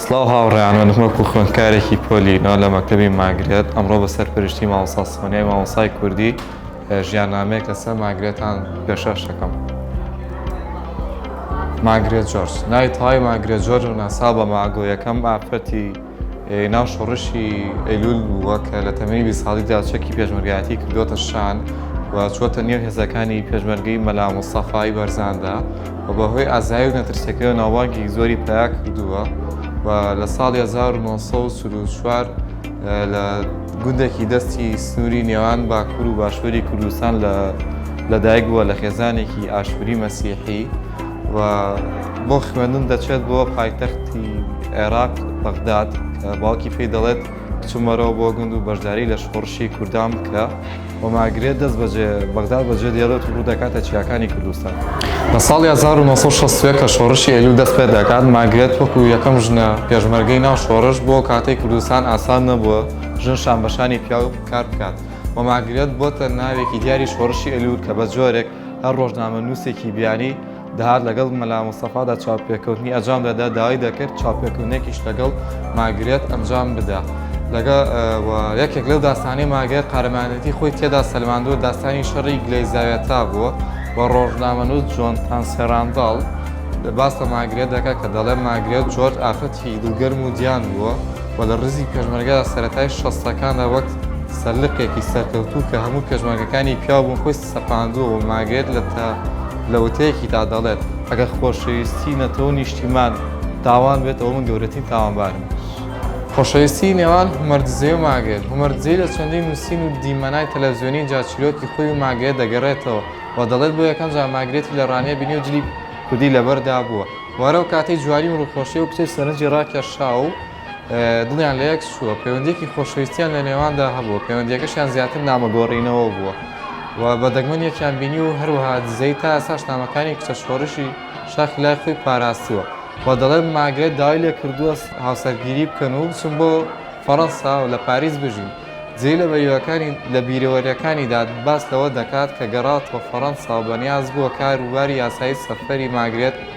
سڵاو هاوڕێیان من وەکو خوێندکارێکی پۆلی نۆ لە مەکتەبی ماگرێت ئەمڕۆ بە سەرپەرشتی مامۆستا سۆنیای مامۆسای کوردی ژیاننامەیەک لەسەر ماگرێتان پێشەش دەکەم ماگرێت جۆرج ناوی تەواوی ماگرێت جۆرج و ناسا بە ماگۆ یەکەم ئافرەتی ناو شۆڕشی ئەیلول بووە کە لە تەمەنی بی ساڵیدا چەکی پێشمەرگایەتی کردوتە شان و چوەتە نێو هێزەکانی پێشمەرگەی مەلا مستەفای بەرزاندا و بە هۆی ئازایی و نەترسیەکەیەوە ناوبانگێکی زۆری پەیا کردووە و لە ساڵی 1940 لە گوندێکی دەستی سنووری نێوان باکوور و باشووری کوردستان لە لەدایک بووە لە خێزانێکی ئاشووری مەسیحی و بۆ خوێندن دەچێت بۆ پایتەختی عێراق بەغداد کە باوکی پێی دەڵێت بچوومەرەوە بۆ گوند و بەشداری لە شۆڕشی کوردان بکە و مارگرێت دەست بەجێ بەغداد بەجێ دێڵێت و ڕوودەکاتە چیاکانی کوردستان. لە ساڵی هەزار و نۆ سەد و شەست و یەک کە شۆڕشی ئەیلول دەست پێدەکات، مارگرێت وەکو یەکەم ژنە پێشمەرگەی ناو شۆڕش، بۆ کاتەی کوردستان ئاسان نەبووە ژن شانبەشانی پیاو کار بکات و مارگرێت بۆتە ناوێکی دیاری شۆڕشی ئەیلول کە بەجۆرێک هەر ڕۆژنامەنووسێکی بیانی دەهات لەگەڵ مەلا مستەفادا چاوپێکەوتنی ئەجام دەدا داوای دەکرد چاوپێکەوتنێکیش لەگەڵ ماگرێت ئەنجام بدا لەگە و یەکێک لەو داستانی ماگرێت قارەمانەتی خۆی تێدا سەلماندووە داستانی شەڕی گلەیزاوێتا بووە و ڕۆژنامەنووس جۆن تانسێرانداڵ لە باس لە ماگرێت دەکە کە دەڵێ ماگرێت جۆرج ئافرەتی دڵگەرم و دیان بووە و لە ڕزی پێشمەرگە سەتای شەستەکاندا وەک سەرلقێکی سەرکەوتوو کە هەموو پێشمەرگەکانی پیاو بوون خۆی سەپاندووە و ماگێت لە تە لە وتەیەکیدا دەڵێت، ئەگەر خۆشەویستی نەتەوە و نیشتیمان تاوان بێت، ئەوە من گەورەترین تاوانبارم. خۆشەویستی نێوان هۆمەر دزێ و ماگێت هۆمەر دزێی لە چەندین نووسین و دیمەنای تەلەڤزیۆنی جا چیرۆکی خۆی و ماگێت دەگەڕێتەوە و دەڵێت، بۆ یەکەم جار ماگرێتی لە ڕانیە بینی و جلی کوردی لەبەر دابووە و هەر ئەو کاتەی جوانی و ڕووخۆشی ئەو کچەی سەرنجی ڕاکێشاوە و دڵیان لە یەک چووە، پەیوەندییەکی خۆشەویستییان لە نێواندا هەبووە، پەیوەندییەکەشیان زیاتر نامەگۆڕینەوە بووە و بە دەگمەن یەکیان بینیوە و هەروەها دزەیی تا ئێستاش نامەکانی کچە شۆڕشی شاخی لای خۆی پاراستووە و دەڵێت، ماگرێت داوای لێ کردووە هاوسەرگیری بکەن و بچن بۆ فەرەنسا و لە پاریس بژین. دزەیی لە بەریوەکانی لە بیرەوەرییەکانیدا باس لەوە دەکات کە گەڕاوەتەوە فەرەنسا و بەنیاز بووە کار و باری یاسایی سەفەری ماگرێت